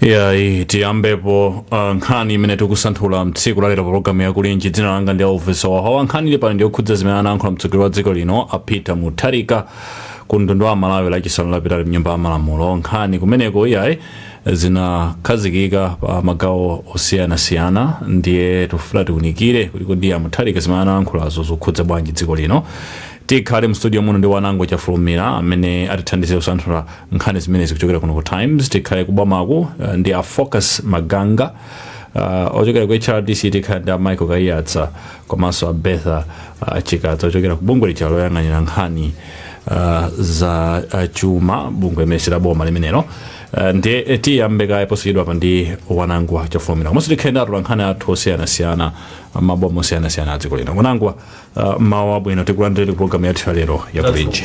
yayi tiyambepo uh, nkhani imene tikusanthula mtsiku lalero pologalamu yakulinji dzina langa ndi elvis wahawa nkhani ili pano ndiyokhudza zimene anayankhula mtsogoleri wa dziko lino a peter mutharika ku mtundu wa malawi lachisanu lapitali mnyumba ya malamulo nkhani kumeneko zinakhazikika pa magawo osiyanasiyana ndiye tikufuna tiunikire kuti kodi a mutharika zimene anayankhulazo zikukhudza bwanji dziko lino Tikhale mu studio muno ndi Wanangwa Chafulumira amene atithandizire kusanthula nkhani zimenezi kuchokera kuno ku Times. Tikhale ku bomako eh, ndi a Focus Maganga uh, ochokera ku HRDC tikhale ndi a Michael Kaiyatsa komanso a Bertha uh, Chikadza ochokera ku bungwe lija loyang'anira nkhani uh, za uh, chuma bungwe limene si la boma limenelo uh, ndiye eh, tiyambe kaye posachedwapa ndi Wanangwa Chafulumira komanso tikhale ndi atolankhani athu osiyanasiyana maboma osiyanasiyana a dziko lino Wanangwa Uh, mawu abwino tikulandireni ku programu yathu ya lero ya kulinji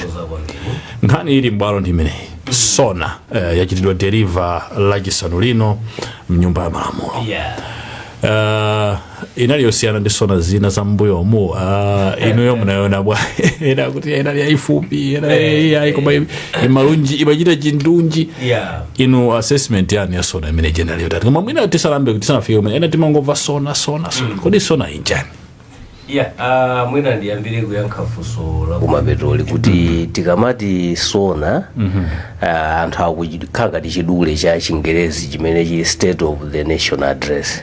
nkhani ili m'bwalo ndi imeneyi sona uh, yachitidwa deliver lachisanu lino mnyumba ya malamulo uh, inali yosiyana ndi sona zina za mbuyomu uh, inuyo munayona bwa ena kuti inali yayifupi ena yayi koma im- imalunjika imachita chindunji Yeah. inu assessment yanu ya sona imene ija inali yotati koma mwina tisalambe tisanafike kumene ena timangomva sona sona sona kodi sona nchiyani Yeah, uh, mwina ndiyambire kuyankha funso la kumapetoli kuti tikamati sona uh, anthu zikukhala ngati chidule cha chingerezi chimene chili state of the nation address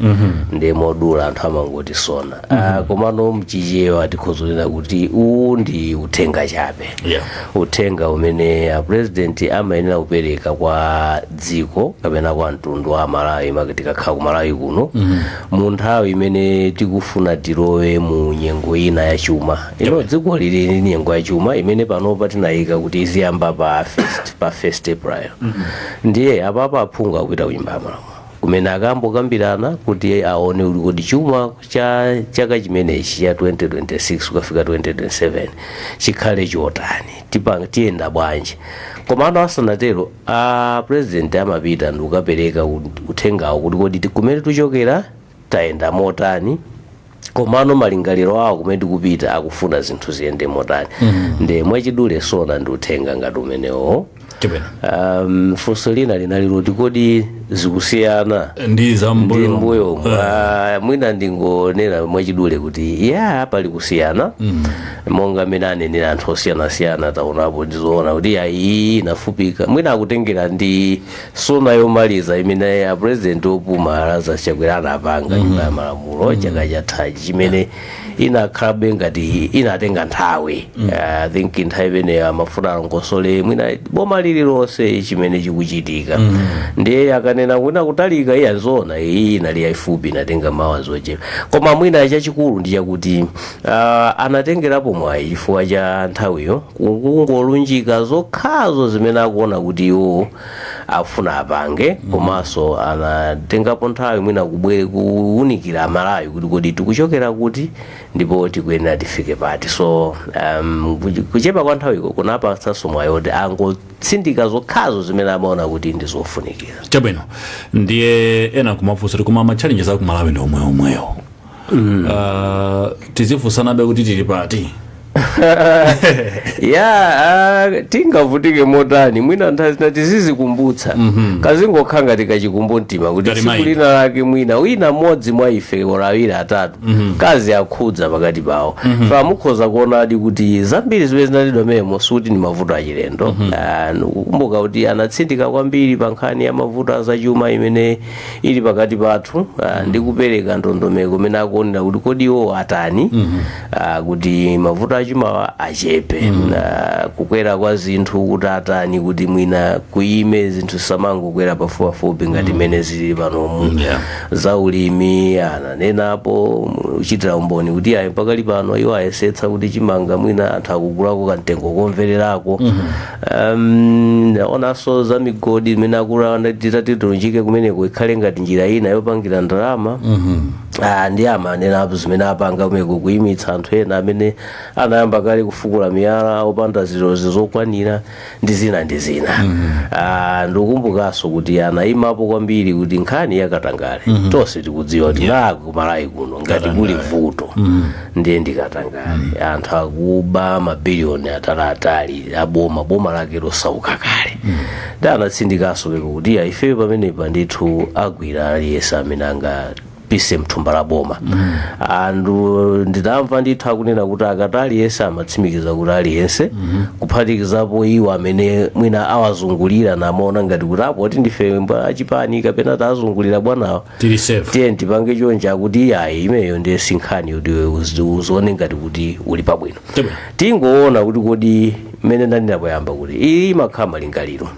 ndiye modula anthu amangoti sona uh, komano mchichewa tikhoza kunena kuti uwu ndi uthenga chabe Yeah. uthenga umene a president amayenera kupereka kwa dziko kapena kwa mtundu wa malawi maka tikakhala ku malawi kuno munthawi imene tikufuna tilowe mu nyengo ina ya chuma you know dziko lili ndi nyengo ya chuma imene panopa tinayika kuti iziyamba pa first, pa first april ndiye apapa aphungu akupita kunyumba ya malamulo kumene akambokambirana kuti aone kuti kodi chuma cha chaka chimenechi cha 2026 kukafika 2027 chikhale chotani tipanga tiyenda bwanji komano asanatero A president amapita ndikukapereka uthengawo kuti kodi ti- kumene tikuchokera tayenda motani komano malingaliro awo kumene tikupita akufuna zinthu ziyende motani nde mwachidule sona ndi uthenga ngati umenewo Chabwino. um, funso lina linali loti kodi zikusiyana ndi ndi za m'mbuyo mbuyo mwina ndingonena mwachidule kuti ya pali kusiyana monga mmene anenera anthu osiyanasiyana taonapo ndizoona kuti ya iyi inafupika mwina akutengera ndi sona yomaliza imene apurezidenti opuma lazarus chakwera anapanga nyumba ya malamulo chaka chathachi chimene inakhalabe ngati inatenga nthawi i think nthawi imeneyo amafuna alongosole mwina boma lililonse chimene chikuchitika ndiye akanena kuti akutalika iya nzoona iyi inali yayifupi inatenga maawazi ochepa koma mwina chachikulu ndi chakuti Uh, anatengerapo mwayi chifukwa cha nthawiyo kungolunjika zokhazo zimene akuona kuti iwo afuna apange komanso anatengapo nthawi mwina kuwunikira malawi kuti kodi tikuchokera kuti ndipo tikuyenera tifike pati so um, kuch- kuchepa kwa nthawiko kunapatsanso mwayi oti angotsindika zokhazo zimene amaona kuti ndi zofunikira chabwino ndiye ena kumafunsa kuti koma ma challenges aku malawi ndi omweomwewo uh, tizifunsanabe kuti tili pati ya uh, tingavutike motani mwina nthawi zina tizizikumbutsa mm-hmm. kazingokhala ngati kachikumbu mtima kuti Ngati tsiku maina. lina lake mwina wina mmodzi mwa ife olo awiri atatu mm-hmm. kaziwakhudza pakati pawo mm-hmm. so mukhoza kuonadi kuti zambiri zimene zinanenedwa mmenemo sikuti ndi mavuto achilendo mm-hmm. uh, kukumbuka kuti anatsindika kwambiri pa nkhani ya mavuto azachuma imene ili pakati pathu ah, ndi kupereka ndondomeko imene akuonera kuti kodi iwo atani ah, kuti mavuto achumawa achepe Ah, kukwera kwa zinthu kuti atani kuti mwina kuyime zinthu zisamangokwera pafupipafupi ngati mmene zili panomu Yeah. za ulimi ananenapo uchitira umboni kuti ayi pakali pano iwo ayesetsa kuti chimanga mwina anthu akugulako kamtengo komvererako Um, anaonanso za migodi imene akuti titati tilunjike kumeneko ikhale ngati njira ina yopangira ndalama Ah, nde amanenapo zimene apanga kumeneko kuyimitsa anthu ena amene anayamba kale kufukula miyala opanda zilolezo zokwanira ndi zina ndi zina Ah, ndikukumbukanso kuti anayimapo kwambiri kuti nkhani yakatangale tonse tikudziwa kuti kuno ku malawi kuno ngati kuli vuto ndiye ndikatangale anthu akuba mabiliyoni ataliatali aboma boma lake losauka kale nde anatsindikanso pompo kuti iyayi ifeyo pamenepa ndithu agwira aliyense amene angapise mthumba la boma ndidamva ndithu akunena kuti akati aliyense amatsimikiza kuti aliyense kuphatikizapo iwo amene mwina awazungulira namaona ngati kuti apo kuti ndife ma achipani kapena tazungulira bwanawa tili safe tiye tipange chonchi akuti iyayi imeneyo ndiye sinkhani kuti iwe uzi- uzione ngati kuti uli pabwino Chabwino. tingoona kuti kodi mmene ndanena poyamba kuti iyi imakhala malingaliro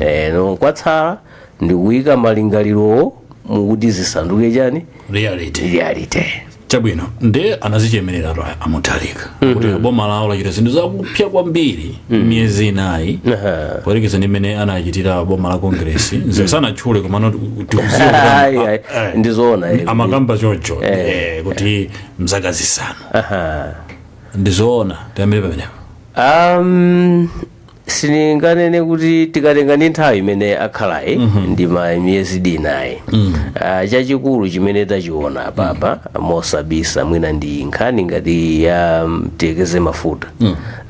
Eh, no kwatsala ndikuyika malingalirowo mukuti zisanduke chani reality reality chabwino nde anazichemerera to a mutharika kuti boma lawo lachita zinthu zakupsa kwambiri miyezi inayi Aha. poyerekeza ndi mmene anachitira boma la Congress sanatchule komano tikuziwa kuti Ai, ama- ai, eh, ndizoona eh. amakamba choncho eh, kuti mzaka zisanu Aha. ndizoona tiyambire pamenepo Um, sininganene kuti tikatenga ndi nthawi imene akhalayi ndi ma miyezi inayi Ah, chachikulu chimene tachiona apapa mosabisa mwina ndi nkhani ngati ya tiyerekeze mafuta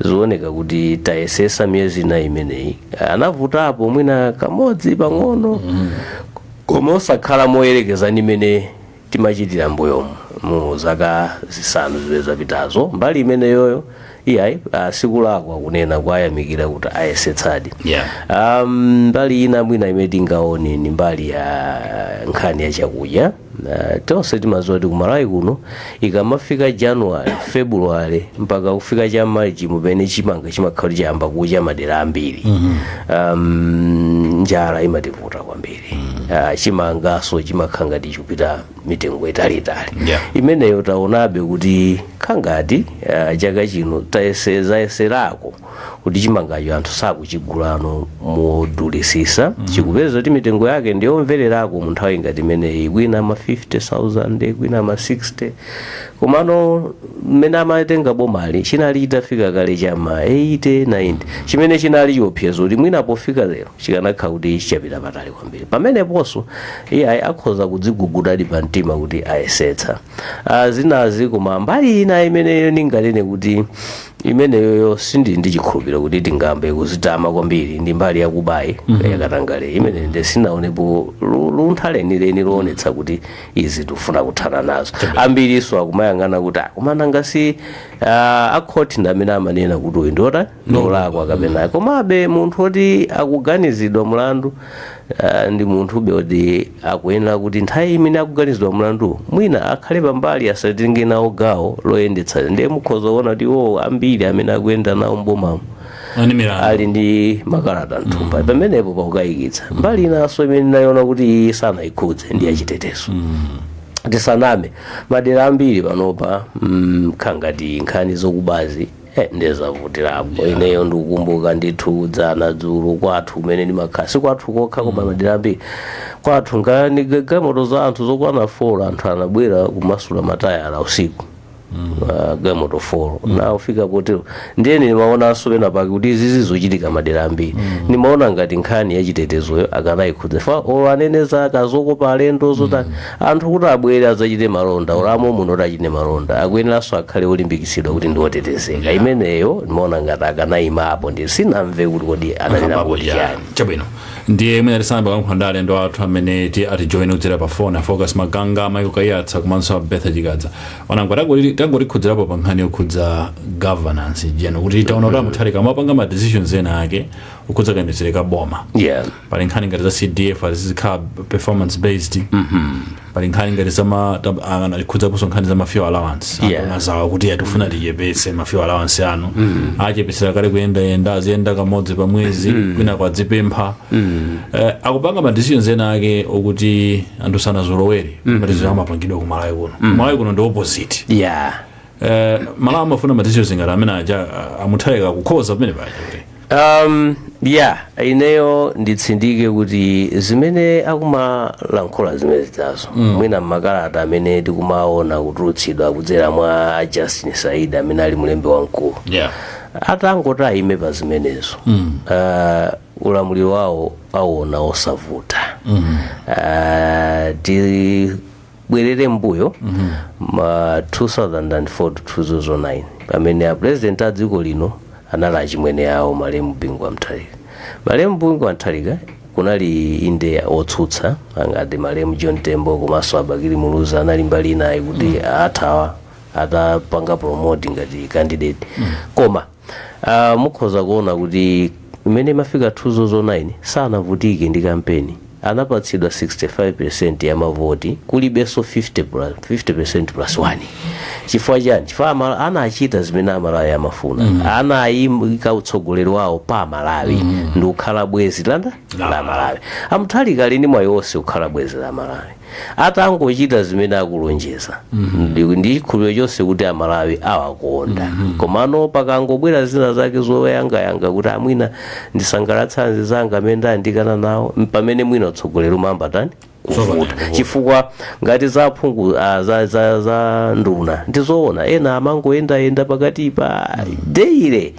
zioneka kuti tayesesa miyezi inayi imeneyi anavutapo mwina kamodzi pang'ono koma osakhala moyerekeza ndi imene timachitira mbuyomu mu zaka zisanu zimene zapitazo mbali imeneyoyo iyayi ah, sikulakwa kunena kuwayamikira kuti ayesetsadi Yeah. um, mbali ina mwina imene tingaone ni mbali ya nkhani ya chakudya uh, tonse timaziwa kuti kumalawi kuno ikamafika january february mpaka kufika cha march mumene chimanga chimakhala chayamba kucha madera ambiri mm-hmm. um, njala imativuta kwambiri Ah, chimangaso chimakhala ngati chikupita mitengo italiitali Yeah. imeneyo taonabe kuti khangati ah, chaka chino tayeserayeserako kuti chimangacho anthu sakuchigulano modulisisa tikupeza kuti mitengo yake ndiyomvererako mu nthawi ngati imeneyi kwina ma 50000 kwina ma 60 komano mmene amatenga bomali chinali chitafika kale chama 80 90 chimene chinali chiopsezo kuti mwina pofika lero chikanakhala kuti chapita patali kwambiri pameneponso iyayi akhoza kudzigugudadi pa mtima kuti ayesetsa Ah, zinazi koma mbali ina imeneyo ndinganene kuti imeneyoyo sindili ndi chikhulupiriro kuti tingayambe kuzitama kwambiri ndi mbali yakubayi yakatangale imene nde sinaonepo lu- luntha lenileni loonetsa kuti izi tifuna kuthana nazo ambiriso akumayang'ana kuti "Ah, koma nanga si ah, akhoti ndi amene amanena kuti uyu ndi ota ndi olakwa kapena komabe munthu oti akuganizidwa mlandu ah, ndi munthube oti akuyenera kuti nthawi imene akuganizidwa mlandu mwina akhale pambali asatenge nawo gawo loyendetsa ndiye mukhoza kuona kuti iwo ambiri amene akuyenda nawo mbomamo ali ndi milandu ali ndi makalata mthumba pamenepo pakukayikitsa mbali inanso imene ndinayiona kuti iyi sanayikhudze ndi yachitetezo tisaname madera ambiri panopa mm, khangati nkhani zokubazi Eh, ndiye zavutirapo ineyo ndikukumbuka ndithu dzana dzulo kwathu kumene ndimakhala si kwathu kokha koma madera ambiri kwathu ngati galimoto za anthu zokwana 4 anthu anabwera kumasula matayala usiku Ah, galimoto 4 nde kufika potero ndiye ndimaonanso pena pake kuti izi zizochitika madera ambiri ndimaona ngati nkhani yachitetezoyo akanayikhudza chifukwa olo anene za zokopa alendo zotani Anthu kuti abwere adzachite malonda olo a mommuno oti achite malonda akuyeneranso akhale olimbikitsidwa kuti ndi otetezeka imeneyo ndimaona ngati akanayimapo ndiye sindinamve kuti kodi ananena kuti chani chabwino ndiye mwina tisanayambe kulankhula ndi alendo athu amene ti atijoyene kudzera pa foni afocus maganga michael kaiyatsa komanso abetha chikadza onangwa tangoti- tangotikhudzirapo pa nkhani yokhudza governance yeah ndikuti taona kuti amutharika amapanga ma decisions ena ake okhudza kayendetsedwe ka boma yeah pali nkhani ngati za cdf izikhala performance based pali nkhani ngati anakhudzaponso nkhani za ma fuel allowance Yeah. a nduna zawo kuti tikufuna tichepetse ma fuel allowance anu achepetsera kale kuyendayenda aziyenda kamodzi pa mwezi kwina kwadzipempha Eh, akupanga ma decisions ena ake okuti anthu sanazolowere ma decisions amapangidwa ku malawi kuno malawi kuno ndi opposite yeah Eh, amalawi amafuna ma decisions ngati amene aja ah, amutharika kukhoza pamene paja kuti um, ya ineyo nditsindike kuti zimene akumalankhula zimenezizo mm. mwina mmakalata amene tikumaona kutulutsidwa kudzera mwa justin saidi amene ali mlembi wamkulu yeah. atangoti ayime pa zimenezo mm. uh, ulamuliro wawo awuona osavuta mm. uh, ti bwerere mbuyo ma 2004 to 2009 pamene a president a dziko lino anali achimwene awo malemu bingu wa mutharika malemu bingu wa mutharika kunali inde otsutsa angati malemu john tembo komanso abakili muluzi anali mbali inayo kuti athawa atapanga promote ngati candidate koma Uh, mukhoza kuona kuti mmene imafika 2009 sanavutike ndi kampeni anapatsidwa 65% ya mavoti kulibenso 50 plus, 50% plus 1 chifukwa chani chifukwa Amala- anachita zimene amalawi amafuna mm. anayika utsogoleri wawo pa amalawi mm. ndi kukhala bwezi landa la amalawi amutharika ali ndi mwayi wonse kukhala bwezi la amalawi atangochita zimene akulonjeza ndi- ndi chikhulupiriro chonse kuti amalawi awakonda komano pakangobwera zina zake zoyang'anayang'ana kuti ah mwina ndisangalatse anzanga amene ndayandikana nawo mpamene mwina utsogoleri umayamba tani kuvuta chifukwa ngati za aphungu ah, za, za, za nduna ndizoona ena amangoyendayenda pakati pa daily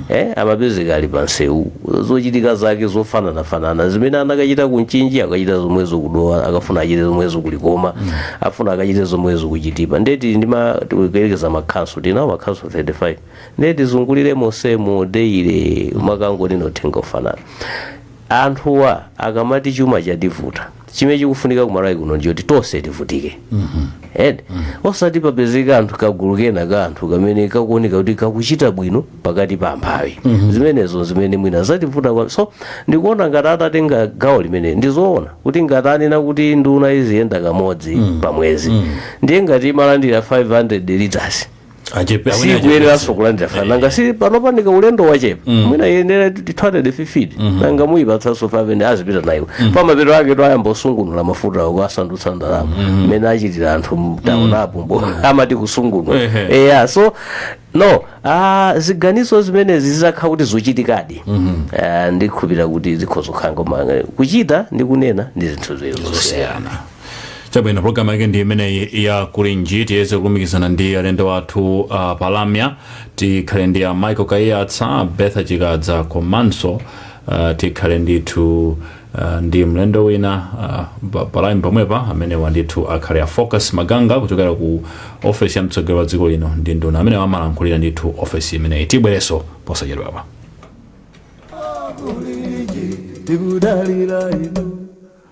eh, amapezeka ali pansewu zochitika zake zofananafanana zimene anakachita ku mchinji akachita zomwezo kudowa akafuna achite zomwezo kulikoma afuna akachite zomwezo kuchitipa ndiye tili ndi ma- tikuyerekeza makhanso tili nawo makhanso 35 ndiye tizungulire monsemo daily kumakangonena uthenga ofanana anthuwa akamati chuma chativuta chimene chikufunika ku malawi kuno ndichoti tonse tivutike and osati papezeka anthu kagulu kena ka anthu kamene kakuoneka kuti kakuchita bwino pakati pa amphawi zimenezo zimene mwina zativuta kwa so ndikuona ngati atatenga gawo limene ndizoona kuti ngati anena kuti nduna iziyenda kamodzi pa mwezi ndiye ngati imalandira 500 liters sikuyeneranso kulandira five hundred nanga si panopa nika ulendo wachepa mwina yenera two hundred fifty nanga muyipatsanso five hundred azipita nayo pamapeto ake ayamba kusungunula mafuta awo kuwasandutsa ndalama mmene achitira anthu mtaunimu amati kusungunula Ehe. eya so no ah, ziganizo zimenezi zizakhala kuti zochitikadi Ah, ndikhulupirira kuti zikhoza kukhala koma kuchita ndi kunena ndi zinthu ziwiri zosiyana zosiyana chabwino programu yake ndi imeneyi ya kulinji tiyese kulumikizana ndi alendo athu uh, palamya tikhale ndi a michael kaiyatsa betha chikadza komanso uh, tikhale ndithu uh, ndi mlendo wina uh, pa- palamya pomwepa amene wandithu akhale a focus maganga kuchokera ku ofesi ya mtsogoleri wa dziko lino ndi nduna amene amalankhulira ndithu ofesi imeneyi tibwerenso posachedwapa tikudalira inu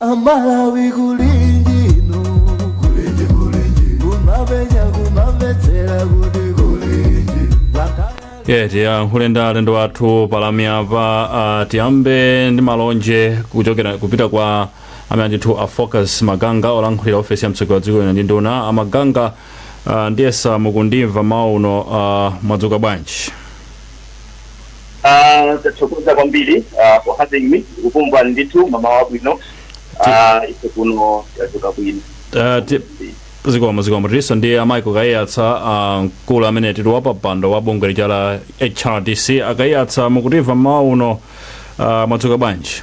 amalawi kuli inu kulinji kulinji kumamvetsera kuti kulinji ye tiyankhule ndi alendo wathu palamyapa ah, tiyambe ndi malonje kuchokera kupita kwa amene ndithu a focus maganga olankhulira ofesi ya mtsogoleri wa dziko lino ndi nduna amaganga ah, ndiyesa mukundimva mmawa uno ah, mwadzuka bwanji Ah, tathokoza kwambiri ah, for having me kukhumba ndithu mmawa wabwino Ah, ife kuno tadzuka bwino Ah, ti- zikomo zikomo tilinso ndi a michael kaiyatsa ah, mkulu amene ndi wa pampando wa bungwe lija la hrdc a kaiyatsa mukutimva mmawa uno ah, mwadzuka bwanji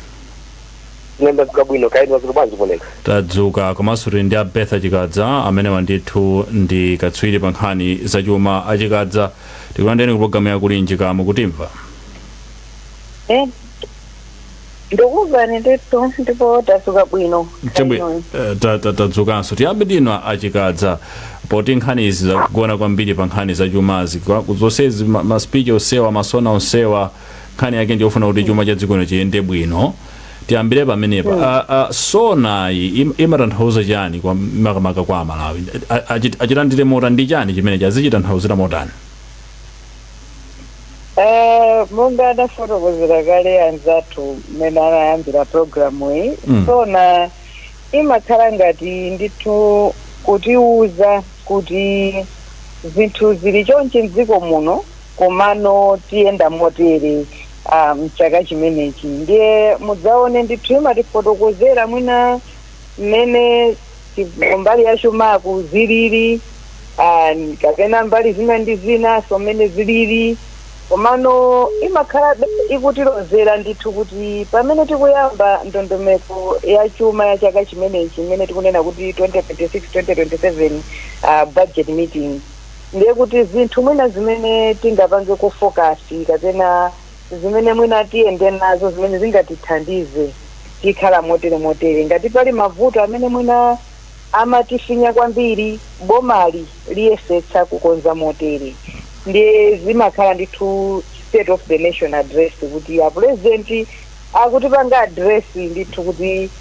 ine ndadzuka bwino kaya inu mwadzuka bwanji kuno tadzuka komanso tili ndi a betha chikadza amene wandithu ndi katswiri pa nkhani zachuma achikadza tikulandireni ku programu ya kulinji kaya mukutimva Eh, ndikumvani ndithu ndipo tadzuka bwino Chemwe, Kainoyi. eh, ta- ta- tadzukanso tiyambe ndi inu achikadza poti nkhani izi zagona kwambiri pa nkhani za chumazi Kwa- zonsezi ma- maspichi onsewa masona onsewa nkhani yake ndiyofuna kuti chuma cha dziko lino chiyende bwino Tiyambire pamenepa a a sonayi im- imatanthauza chani kwa makamaka kwa amalawi A- achi- achilandire motani ndi chani chimenechi achitanthauzire motani Eh, monga adafotokozera kale anzathu mmene anayambira programu iyi Mm. sona imakhala ngati ndithu kutiuza kuti zinthu zili chonchi mdziko muno komano tiyenda motere ah, mchaka chimenechi ndiye mudzaone ndithu imatifotokozera mwina mmene chi- mbali ya chumaku zilili ah, kapena mbali zina ndi zina so mmene zilili komano imakhala ikutilozera ndithu kuti pamene tikuyamba ndondomeko ya chuma ya chaka chimenechi imene tikunena kuti 2026 2027 ah, budget meeting Ndiye kuti zinthu mwina zimene tingapangeko focus kapena zimene mwina tiyende nazo zimene zingatithandize tikhala motere motere. Ngati pali mavuto amene mwina amatifinya kwambiri, bomali liyesetsa kukonza motere. Ndiye zimakhala ndithu state of the nation address kuti a president akutipanga address ndithu kuti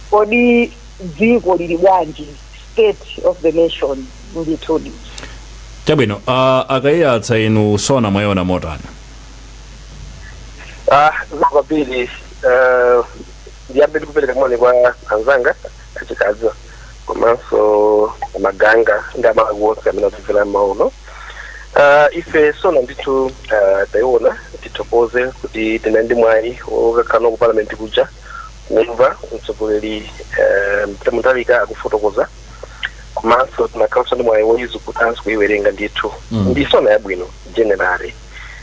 kodi dziko lili bwanji state of the nation ndithu chabwino uh, a Kaiyatsa inu sona mwayiona motani Ah, kwambiri eh, ndiyambe ndikupereka moni kwa anzanga a Chikadza komanso a Maganga ndi amalawi onse amene akutimvera mauno Ah, ife sona ndithu ah, tayiona tithokoze kuti tinali ndi mwayi okakhala ku parliament kuja kumva mtsogoleri Peter Mutharika akufotokoza komanso tinakhalanso ndi mwayi woyizukutanso kuyiwerenga ndithu Mm. ndi sona yabwino generally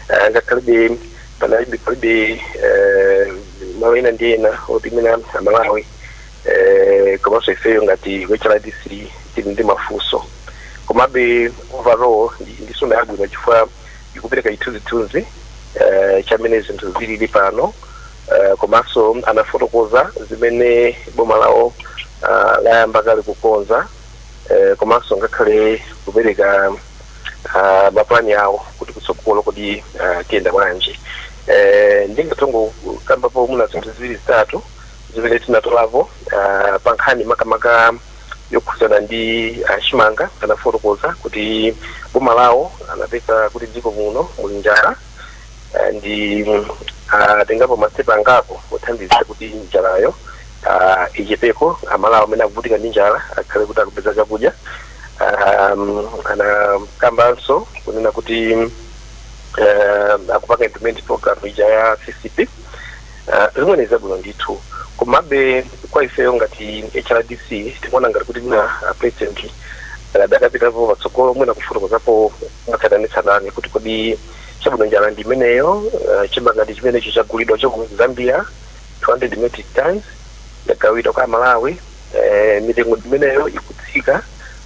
Eh, ngakhalebe palibe eh, malo ena ndi ena oti mwina amalawi eh, komanso ifeyo ngati hrdc tili ndi mafunso komabe overall ndi- ndi sona yabwino chifukwa ikupereka chithunzithunzi eh, chamene zinthu zilili pano eh, komanso anafotokoza zimene boma lawo ah, layamba kale kukonza eh, komanso ngakhale kupereka ah, mapulani awo kuti kutsogolo kodi ah, tiyenda bwanji Eh, ndingatongo kambapo mwina zinthu ziwiri zitatu zimene tinatolapo ah, pa nkhani makamaka yokhudzana ndi chimanga anafotokoza kuti boma lawo anapeza kuti dziko muno muli njala ah, ndi mm, atengapo masitepe angapo othandiza kuti njalayo ah, ichepeko amalawi amene akuvutika ndi njala akhale kuti akupeza chakudya Ah, mm, anakambanso kunena kuti mm, eh, akupanga implement program ija ya fisp Ah, zimene ni zabwino ndithu komabe kwa ifeyo ngati hrdc tikuona ngati kuti mwina a president adakapitapo patsogolo mwina kufotokozapo mwatsatanetsatane kuti kodi chabwino njala ndi imeneyo uh, chimanga ndi chimenecho chagulidwa cha ku zambia 200 metric tons yagawidwa kwa amalawi eh, mitengo ndi imeneyo ikutsika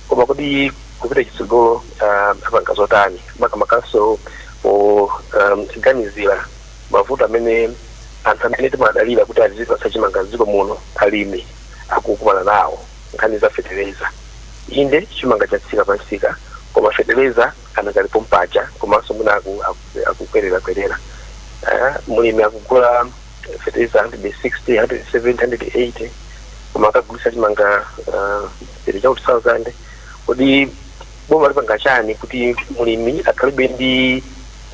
koma kodi kupita chitsogolo uh, apanga zotani makamakanso poganizira um, mavuto amene anthu amene timadalira kuti azipatsa chimanga dziko muno alimi akukumana nawo nkhani za fetereza inde chimanga chatsika pamsika koma fetereza anakali pompaja komanso mwina aku- aku- akukwererakwerera Eh, mlimi akugula fertilizer 160 170 180 koma akagulitsa chimanga ah, 30000 kodi boma lipanga chani kuti mlimi akhalebe ndi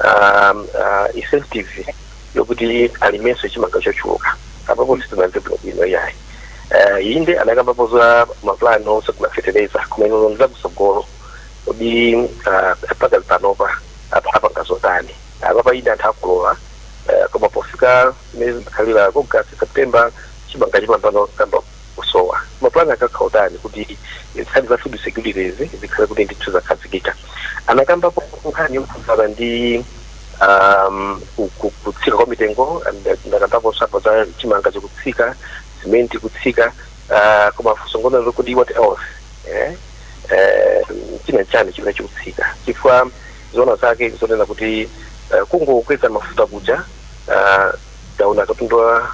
ah, ah, incentive yokuti alimenso chimanga chochuluka apapo sitinamve bwino bwino yayi Eh, inde anakambapo za mapulani ogula fetereza koma izo zakutsogolo kodi ah, mpaka panopa apa apanga zotani apapa inde anthu akukolola eh, koma pofika mwezi wa ogasiti september chimanga chimayambano kuyamba kusowa mapulani akhala otani kuti nkhani za food security zikhale kuti ndithu zakhazikika anakambapo nkhani yokhudzana ndi um, ku- ku- kutsika kwa mitengo and ndakambapo apo za chimanga chikutsika simenti kutsika ah, koma funso ngonena kuti what else eh? eh, china nchani chimene chikutsika chifukwa zoona zake nzonena kuti eh, kungokweza mafuta kuja ah, taona katundu wa-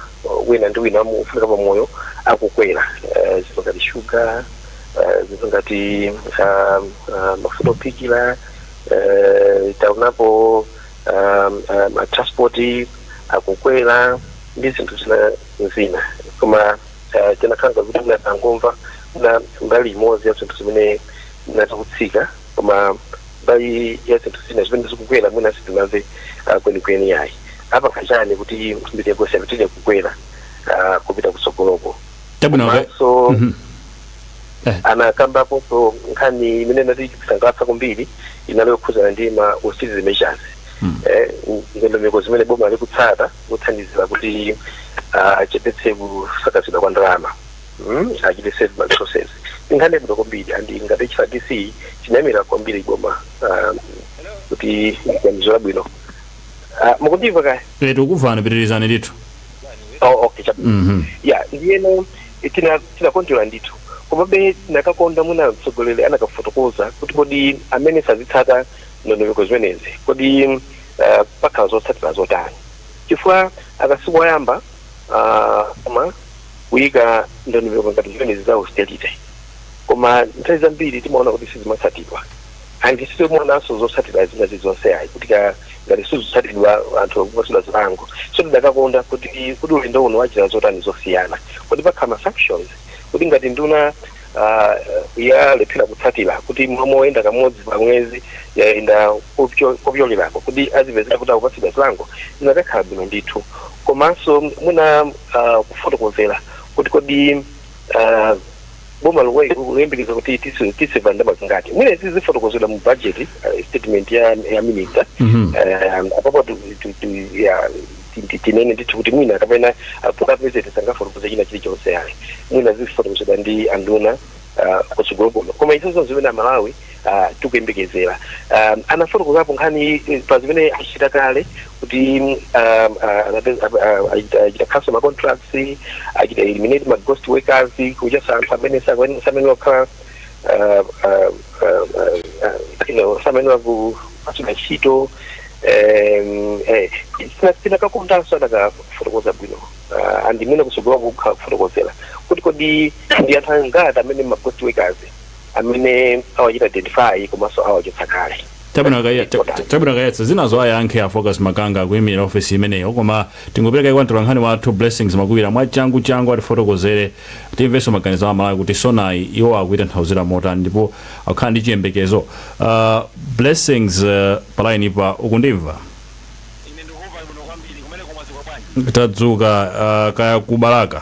wina ndi wina wofunika pa moyo akukwera eh, zinthu ngati shuga eh, zinthu ngati ah, ah, mafuta ophikira eh, taonapo ah, ah, matranspoti akukwera ndi zinthu zina zina koma eh, tinakhala ngati kuti mwina tinangomvana mbali imodzi ya zinthu zimene amati zikutsika koma mbali ya zinthu zina zimene zikukwera mwina sitinamve ah, kwenikweni yayi apanga chani kuti mitengo isapitire kukwera ah, kupita kutsogoloko chabwino ka- komanso Mhm. Eh. anakambaponso nkhani imene inatisangalatsa kwambiri inali yokhudzana ndi ma austerity measures Mm. eh, ndondomeko zimene boma likutsata kuthandizira kuti achepetse kusakazidwa kwa ndalama mm, achite save ma resources ndi nkhani yabwino kwambiri and ngati hrdc tinayamikira kwambiri boma ah, kuti ganizo labwino Ah, mukundimva kaya Eh, tikukumvani pitirizani ndithu oh, okay chap- Mhm. ya ndiyeno tina- tinakondwera ndithu komabe tinakakonda kuti mwina mtsogoleri anakafotokoza kuti kodi amene sazitsata ndondomeko zimenezi kodi uh, pakhala zotsatira zotani chifukwa aka sikoyamba uh, koma kuyika ndondomeko ngati zimenezi za austerity koma nthawi zambiri timaona kuti sizimatsatidwa and sitimaonanso zotsatira zina zilizonse ayi kuti ka- ngati sizitsatidwa anthu akupatsidwa zilango so ndidakakonda kuti kuti ulendo uno wachita zotani zosiyana kuti pakhala ma sanctions kuti ngati nduna ah, yalephera kutsatira kuti m'malo moyenda kamodzi pa mwezi yayenda kopyo- kopyolerapo kuti azipezeka kuti akupatsidwa chilango zinakakhala bwino ndithu komanso mwina ah, kufotokozera kuti kodi ah, boma likuyembekeza kuti tisi- tisiva ndalama zingati mwina izi zifotokozedwa mu budget ah, statement ya ya minister Mhm. Eh, apapo tu- tu- tu- ya ti- tinene ndithu kuti mwina kapena popeza apulezidenti sangafotokoze china chilichonse yayi mwina zifotokozedwa ndi anduna ah, kutsogolo kuno koma izo ndi zimene amalawi ah, tikuyembekezera Ah, anafotokozapo nkhani eh, pa zimene achita kale kuti mm, ah, ah, anape- ah, ah, achita- achita cancel ma contracts achita eliminate ma ghost workers kuchotsa anthu amene sakuyenera- amene akhala uh, uh, uh, uh, you know, samene wakugwira ntchito um, eh, tina- tinakakondanso atakafotokoza bwino uh, and mwina kutsogoloku kufotokozera kuti kodi ndi anthu angati amene ma ghost workers amene awachita identify komanso awachotsa kale chabwino akaya- ta- ta- chabwino akayankha zinazo ayankhe a focus makanga akuimira ofesi imeneyo koma Tingopereka mwayi kwa mtolankhani wathu Blessings Makuwira mwachangu changu atifotokozere timvenso maganizo a Amalawi kuti SONAyi iwo akuitanthauzira motani ndipo akukhala ndi chiyembekezo? Uh, Blessings uh, palainipa ukundimva? Ine ndikukumva bwino kwambiri. Kumeneko mwadzuka bwanji? Tadzuka uh, kaya ku Balaka.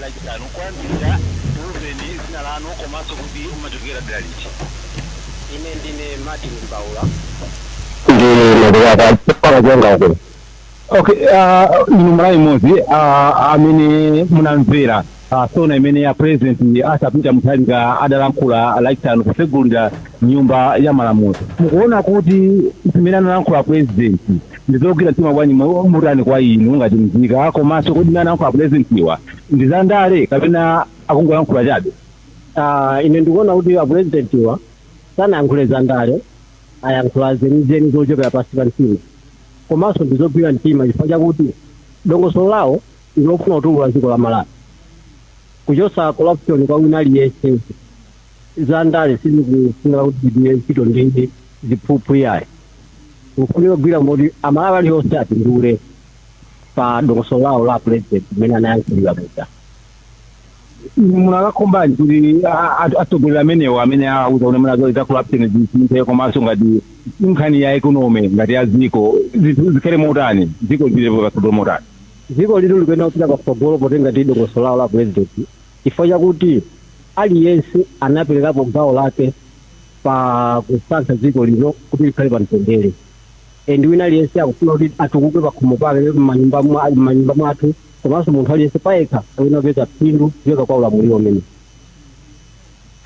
Lachisanu, Koyambirira tiuzeni dzina lanu komanso kuti mumachokera dera liti? Ine ndine Martin Mbaula. Ndimakhala pa chipala changa uko. Okay, uh, ndinu Mmalawi mmodzi uh, amene munamvera uh, sona imene a president Arthur Peter Mutharika adalankhula lachisanu kusegulira nyumba ya malamulo mukuona kuti zimene analankhula president Ndizogwira mtima bwanji kapena motani kwa inu ngati mzika komaso kodi zimene anayankhula apulezidentiwa ndi za ndale kapena akungoyankhula chabe? Aaa ine ndikuona kuti apulezidentiwa sanayankhule za ndale ayankhula zenizeni zochokera pansi pa mtima komaso ndizogwira mtima chifukwa chakuti dongosolo lawo ndilofuna kutukula dziko la Malawi kuchosa corruption kwa wina aliyese. za ndale sizikufunika kuti tigwire ntchito ndi ziphuphu iyayi kufunika kugwira moti amalawi alionse apindule pa dongosolo lawo la president imene anayankhulira muja munakakhumbanji kuti a- a- atsogoleri amenewo amene auza kuti muna za corruption zisinthe komanso ngati nkhani ya economy ngati ya dziko zinthu zikhale motani dziko lipite patsogolo motani dziko lino likuyenera kupita patsogolo potenga ndi dongosolo lawo la president Chifukwa chakuti aliyense anaperekapo gawo lake pa kusankha dziko lino kuti likhale pa mtendere and wina aliyense akufuna kuti atukuke pakhomo pake, mmanyumba mwathu komanso munthu aliyense payekha akuyenera kupeza phindu kuchoka kwa ulamuliro umenewu.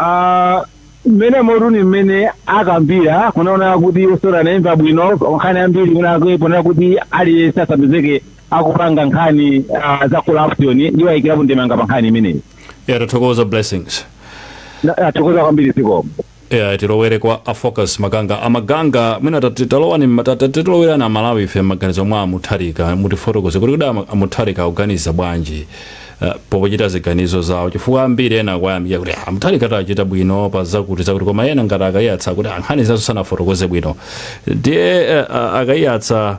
Aaa mmenemotu ni mmene akambila kunaona kuti SONA anaimva bwino nkhani yambiri kunako ponena kuti aliyense asapezeke akupanga nkhani uh, za corruption iwo ayikirapo ndemanga pa nkhani imeneyi ya tathokoza blessings tathokoza kwambiri zikomo ya tilowere kwa afocus maganga amaganga mwina tati- talowani mma- tati- titilowerani amalawi ife maganizo mwa amutharika mutifotokoze kuti kuda ama- amutharika akuganiza bwanji eh, pochita ziganizo zawo chifukwa ambiri ena akuyamika kuti "Ah, amutharika achita bwino pa zakuti zakuti koma ena ngati akayatsa kuti "Ah, nkhani zazo sanafotokoze bwino ndiye eh, ah, akayatsa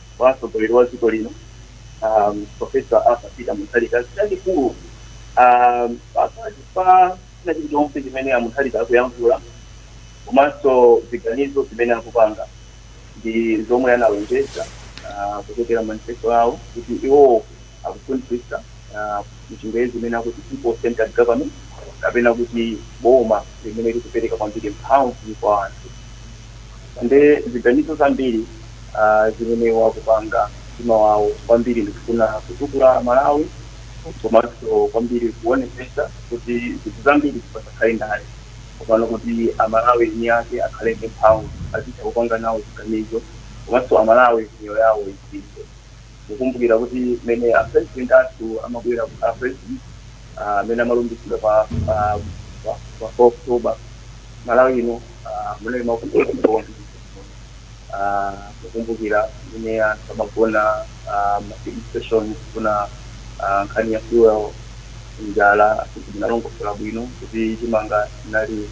kwa mtsogoleri wa dziko lino um, profesa arthur peter mutharika chachikulu um, pakati pa china chilichonse chimene amutharika akuyankhula komanso ziganizo zimene akupanga ndi zomwe analonjeza ah, kuchokera manifesto awo kuti iwowo akufunitsitsa m'Chingelezi imene akuti People Centered Government kapena kuti boma limene likupereka kwambiri mphamvu kwa anthu. And ziganizo zambiri zimene akupanga mtima wawo kwambiri ndikufuna kutukula Malawi komanso kwambiri kuonetsetsa kuti zinthu zambiri pasakhale ndale komano kuti a Malawi eni ake akhale ndi mphamvu azitha kupanga nawo ziganizo komanso a Malawi miyoyo yawo isinthe. mukumbukira kuti mene a president athu amabwera ku- a president ah, amene amalumbiritsidwa pa pa pa- pa 4 October Malawi ino ah, mumakumbukira ah, mukumbukira mene anthu amagona ah, ma filling station kuna ah, nkhani ya fuel njala kuti tanalongosola bwino kuti chimanga chinali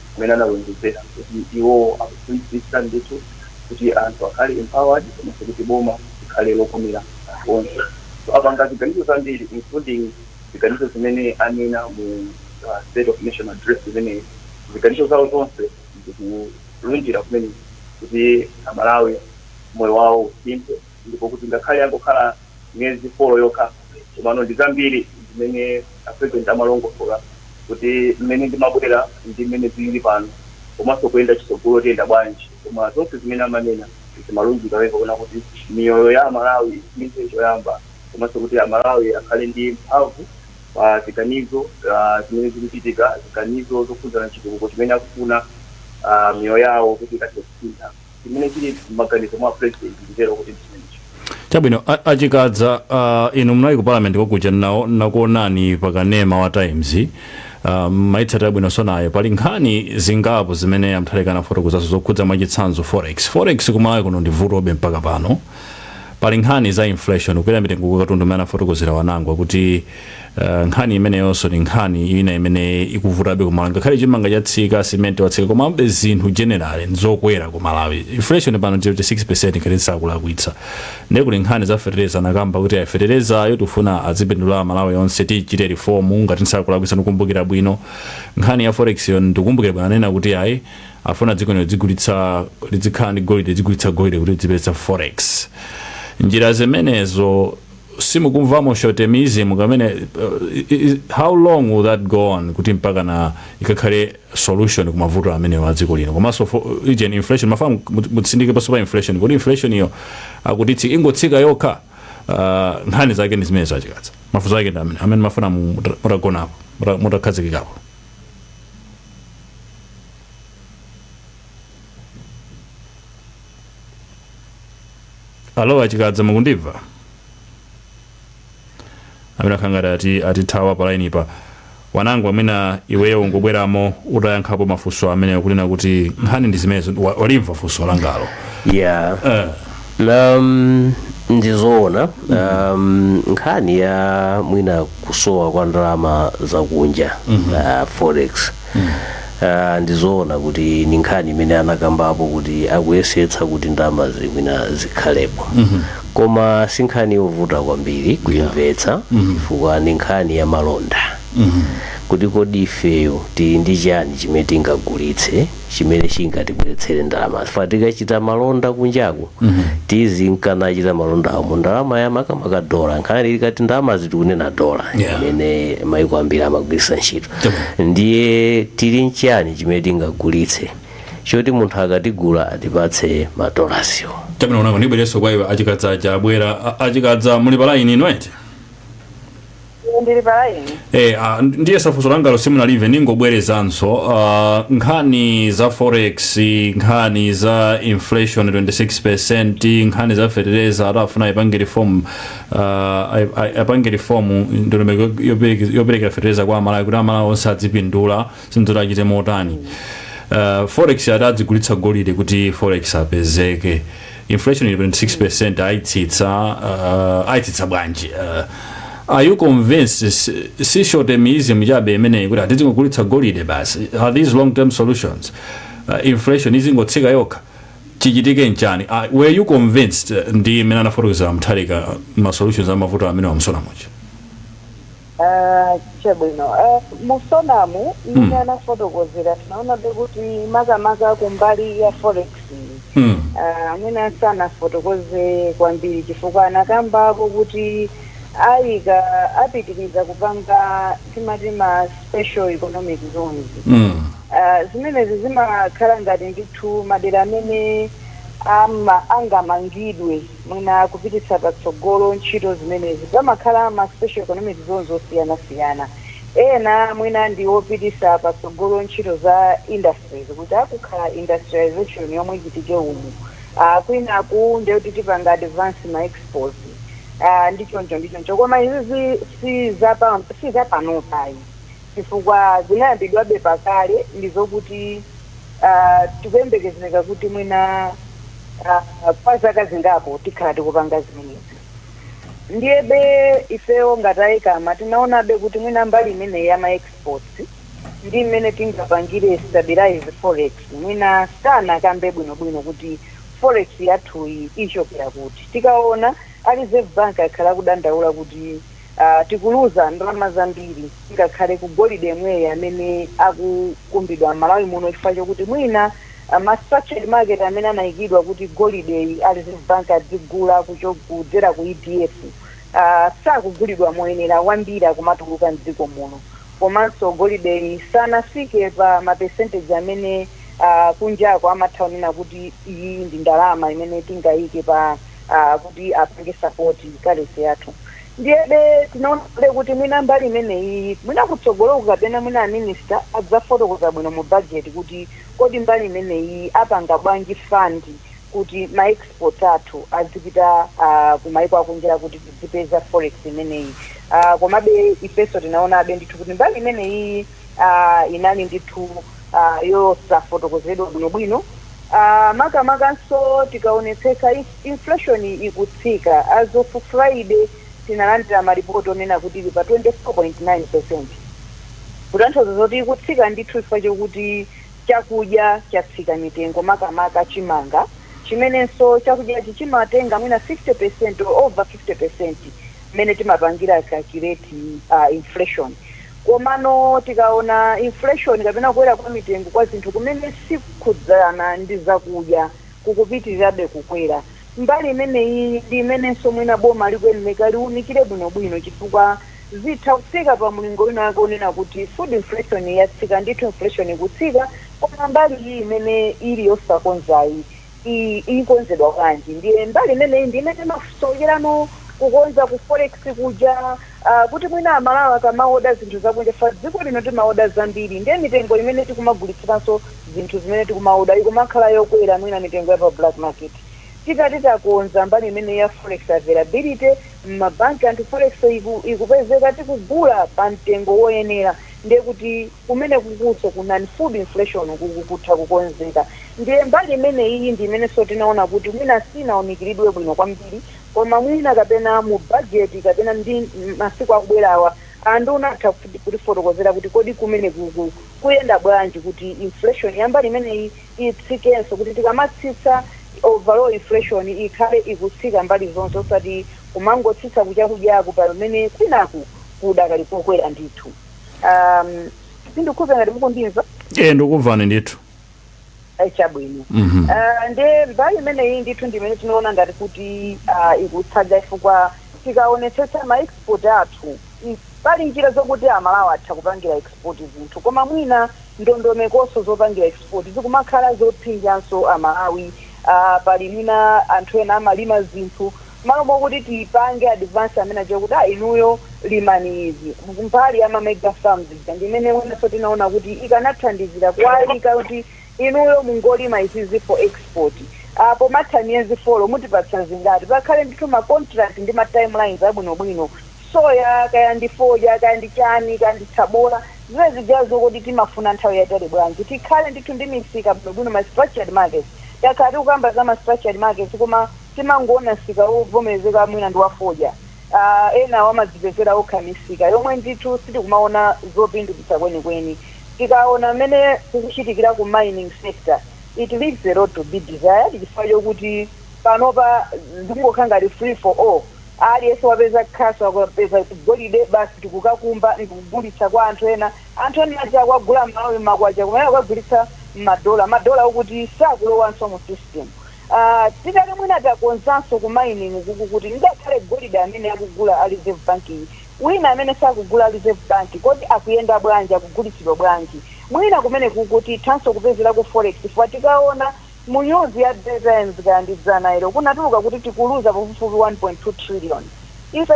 kumene analonjezera kuti iwo akufunitsitsa ndithu kuti anthu akhale empowered komanso kuti boma likhale lokomera anthu onse. So apanga ziganizo zambiri including ziganizo zimene anena mu uh, State of Nation Address imeneyi. Ziganizo zawo zonse zikulunjira kumene kuti Amalawi moyo wawo usinthe ndipo kuti ngakhale yangokhala miyezi 4 yokha komano ndi zambiri zimene a president amalongosola kuti mmene ndimabwera ndi mmene zilili pano komanso kuyenda chitsogolo tiyenda bwanji koma zonse zimene amanena zimalunjika pamene pakuona kuti miyoyo ya amalawi isinthe choyamba komanso kuti amalawi akhale ndi mphamvu pa ziganizo ah, zimene zikuchitika ziganizo zokhudzana chitukuko chimene akufuna ah, miyoyo yawo kuti ikathe kusintha chimene chili m'maganizo mwa president nditero kuti ndichimenecho. Chabwino a, a Chikadza uh, inu munali ku parliament kokuja nawo nakuonani pa kanema wa Times uh, maitsatira bwino sonayo pali nkhani zingapo zimene a Mutharika anafotokozazo zokhudza mwachitsanzo forex forex kumalawi kuno ndi vutobe mpaka pano pali nkhani za inflation kukwera mitengo kwa katundu imene anafotokozera wanangwa kuti Uh, nkhani imeneyonso ni nkhani ina imene ikuvutabe ku malawi ngakhale chimanga chatsika simenti watsika komabe zinthu generally nzokwera ku malawi inflation pano ndi 6 ngati sindikulakwitsa ndiye kuli nkhani za fetereza anakamba kuti feterezayo tifuna azipindula amalawi onse tichite reform ngati sindikulakwitsa ndikumbukira bwino nkhani ya forex yo ndikumbukira bwino anena kuti ayi afuna dziko lino lidzigulitsa lidzikhala ndi golide lidzigulitsa golide kuti lidzipeza forex njira zimenezo simukumvamo short termism kamene how long will that go on kuti mpakana ikakhale solution ku mavuto amenewo a dziko lino komanso ijeni inflation mmafuna mutsindike ponso pa inflation kuti inflation iyo akutitsi ingotsika yokha uh, nkhani zake ndi zimenezo a Chikadza mafunso ake ndi amene amene mmafuna mutagonapo mutakhazikikapo alo a Chikadza mukundimva amene akukhala ngati ati atithawa pa line pa wanangwa mwina iweyo ungobweramo utayankhapo mafunso amenewa kunena kuti nkhani ndi zimenezo Wa- walimva funso langalo yeah Eh, um, ndizoona um, nkhani ya mwina kusowa kwa ndalama zakunja uh, forex Ah, ndizoona kuti ni nkhani imene anakambapo kuti akuyesetsa kuti ndalama zi mwina zikhalepo koma si nkhani yovuta kwambiri kuimvetsa chifukwa ni nkhani ya malonda kuti kodi ifeyo tili ndi chani chimene tingagulitse chimene chingatibweretsere ndalama chifukwa tikachita malonda kunjaku tizinka nachita malonda awo mu ndalama ya makamaka dola nkhani tikati ndalama ndiye tikunena dola Yeah. imene maiko ambiri amagwiritsa ntchito ndiye tili nchiyani chimene tingagulitse choti munthu akatigula atipatse madolaziwo chabwino kunjako ndibwerenso kwa iwe achikadza aja abwera A- achikadza muli pa line ino eti ndili pa line Eh, ah, ndiye zafunso langalo simunalimve ndingobwerezanso ah, nkhani za forex nkhani za inflation 26 nkhani za fertilizer ati afuna ipange reform uh, ai- ai- apange rifomu ndondomeko yopereke- yoperekera fetereza kwa amalawi kuti amalawi onse adzipindula zinthuzo ati achite motani uh, forex ati adzigulitsa golide kuti forex apezeke inflation ili 26 ayitsitsa uh, ayitsitsa bwanji uh, are you convinced si- si short termism chabe imeneyi kuti atizingogulitsa golide basi are these long term solutions uh, inflation izingotsika yokha chichitike nchani uh, were you convinced eh, ndi mmene anafotokozera Mutharika ma solutions amavuto amene a mu SONA muja Ah, chabwino Ah, mu SONA-mu mmene anafotokozera tinaonabe kuti makamaka kumbali ya forex mm. Ah, amene sanafotokoze kwambiri chifukwa anakambako kuti ayika apitiriza kupanga timati ma special economic zones mm. Zimenezi zimakhala ngati ndithu madera amene angamangidwe mwina kupititsa patsogolo ntchito zimenezi. Pamakhala ma special economic zones osiyanasiyana. Ena mwina ndi opititsa patsogolo ntchito za industries kuti akukhala industrialisation yomwe ichitike umu. Kwinaku ndiye kuti tipanga advance ma exports ndi choncho ndi choncho. Koma izizi si za panopayi. chifukwa zinayambidwabe pa kale ndi zokuti ah, tikuyembekezereka kuti mwina ah, kwa zaka zingapo tikhala tikupanga zimenezi ndiyebe ifeyo ngati a ECAMA tinaonabe kuti mwina mbali imeneyi ya ma exports ndi mmene tingapangire stabilize forex mwina sanakambe bwinobwino kuti forex yathuyi ichokera kuti tikaona a reserve bank akhala akudandaula kuti uh, tikuluza ndalama zambiri ngakhale ku golide yemweyo amene akukumbidwa m'malawi muno chifukwa chokuti mwina uh, ma structured market amene anayikidwa kuti golideyi a reserve bank adzigula kucho- kudzera ku edf uh, sakugulidwa moyenera wambiri akumatuluka mdziko muno komanso golideyi sanafike pa mapercentage amene uh, kunjako amatha kunena kuti iyi ndi ndalama imene tingayike pa ah, kuti apange sapoti currency yathu ndiyebe tinaonabe kuti mwina mbali imeneyi mwina kutsogoloku kapena mwina aminista adzafotokoza bwino mu bajeti kuti kodi mbali imeneyi apanga bwanji fund kuti ma export athu azipita ah, ku maiko akunjira kuti tidzipeza forex imeneyi Ah, komabe ifenso tinaonabe ndithu kuti mbali imeneyi ah, inali ndithu ah, yosafotokozedwa bwinobwino ah, makamakanso tikaonetsetsa inf- inflation ikutsika as of friday tinalandira maripoti onena kuti ili pa 24.9 percent kutanthauza zoti ikutsika ndithu chifukwa chokuti chakudya chatsika mitengo makamaka chimanga chimenenso chakudyachi chimatenga mwina 50 percent or over 50 percent mmene timapangira calculate uh, inflation Komano tikaona inflation kapena kukwera kwa mitengo kwa zinthu kumene sikukhudzana ndi zakudya kukupitirirabe kukwera, mbali imeneyiyi ndi imenenso mwina boma likuyenereka liunikire bwinobwino chifukwa zitha kufika pa mlingo winawake wonena kuti food inflation yatsika ndithu, inflation ikutsika koma mbali iyi imene ili yosakonzayi. iyi ikonzedwa bwanji ndiye mbali imeneyi ndi imene imasowerano kukonza ku forex kuja uh, kuti mwina amalawi akamaoda zinthu zakunja fa dziko lino timaoda zambiri ndiye mitengo imene tikumagulitsiranso zinthu zimene tikumaoda ikumakhala yokwera mwina mitengo ya pa black market tikati takonza mbali imene ya forex availability m'mabanki anthu forex iku, ikupezeka tikugula pa mtengo woyenera ndiye kuti kumenekukunso ku non-food inflation ukuku kutha kukonzeka. Ndiye mbali imeneyiyi ndi imenenso tinaona kuti mwina siinaunikiridwe bwino kwambiri koma mwina kapena mu bajeti kapena ndi masiku akubwerawa a nduna atha kutifotokozera kuti kodi kumenekuku kuyenda bwanji kuti inflation ya mbali imeneyi itsikenso kuti tikamatsitsa overall inflation ikhale ikutsika mbali zonse osati kumangotsitsa ku chakudyako pamene kwinaku kudakali kokwera ndithu. Um, sindikukhulupira ngati mukundimva. Eh, ndikukumvani ndithu. Eh, chabwino mm -hmm. nde mbali imeneyi ndithu ndimene tinoona ngati kuti uh, ikutsalira chifukwa tikaonetsetsa maexport athu Pali njira zokuti a Malawi atha kupangira export zinthu koma mwina ndondomekonso zopangira export zikumakhala zopsinjanso a Malawi a pali mwina anthu ena amalima zinthu mmalo mokuti tipange advance amene achokuti a inuyo limani izi mbali ya ma mega farms ija ndi imene mwinanso tinaona kuti ikanathandizira kuwaika kuti inuyo mungolima izizi for export a pomatha miyezi folo mutipatsa zingati pakhale ndithu ma contract ndi ma timelines abwinobwino soya kaya ndi fodya kaya ndi chani kaya ndi tsabola zina zijazo kodi timafuna nthawi yatali bwanji tikhale ndithu ndi misika bwinobwino ma structured markets takhala tikukamba za ma structured markets koma timangoona msika wovomerezeka mwina ndi wa fodya Ah, ena amadzipezera okha misika yomwe ndithu sitikumaona zopindulitsa kwenikweni tikaona mmene kukuchitikira ku mining sector it leaves a lot to be desired chifukwa chokuti panopa zikungokhala ngati free for all Aliyense wapeza khasu akapeza golide basi tikukakumba ndikugulitsa kwa anthu ena. Anthu ena aja akumugula m'Malawi m'makwacha koma iye akukagulitsa m'madola. Madola okuti sakulowanso mu system. Uh, titati mwina takonzanso ku mining kuku kuti ngakhale golide amene akugula a Reserve Bank, wina amene sakugula a Reserve Bank, kodi akuyenda bwanji, akugulitsidwa bwanji? Mwina kumenekuku tithanso kupezerako forex chifukwa tikaona Mu nyuzi ya Daily Times kaya ndi dzanalo kunatuluka kuti tikuluza pafupifupi 1.2 trillion. Ife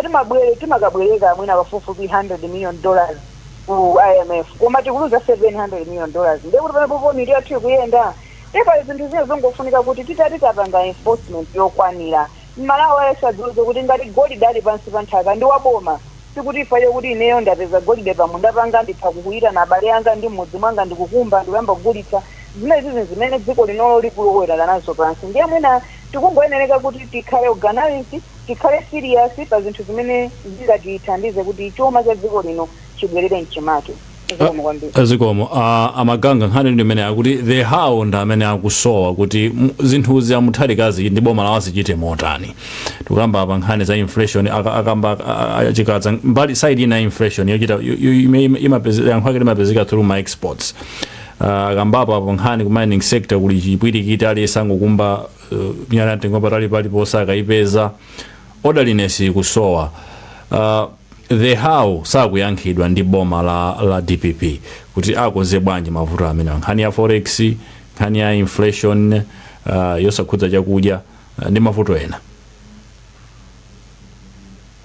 timakabwereka mwina pafupifupi 100 million dollars ku IMF koma tikuluza 700 million dollars ndiye kuti pamenepopo mitu yathu ikuyenda? Ndiye pali zinthu zina zongofunika kuti titati tapanga enforcement yokwanira, m'Malawi aliyense adziwuze kuti ngati golide ali pansi pa nthaka ndi wa boma. Sikuti chifukwa chakuti ineyo ndapeza golide pamunda panga nditha kuyitana abale anga ndi m'mudzi mwanga ndikukumba ndikuyamba kugulitsa. Zimenezizi nzimene dziko linolo likulowelera nazo pansi. Ndiye mwina tikungoyenereka kuti tikhale organized, tikhale serious pa zinthu zimene zingatithandize kuti chuma cha dziko lino chibwelere mchimake. zikomo kwambiri zikomo uh, a Maganga nkhani ndi imene akuti the how ndi amene akusowa kuti m- zinthuzi a Mutharikazi ndi boma lawo azichite motani tikamba apa nkhani za inflation aka- akamba a- a- Chikadza mbali side ina ya inflation yochita yo- yo- ime- ime- imapeze- yankho ake limapezeka through ma exports uh, akambapo apo nkhani ku mining sector kuli chipwirikiti aliyense angokumba uh, miyala ya mtengo wapatali paliponse akayipeza orderliness ikusowa uh, The how sakuyankhidwa ndi boma la, la dpp kuti akonze bwanji mavuto amenewa nkhani ya forex nkhani ya inflation uh, yosakhudza chakudya uh, ndi mavuto ena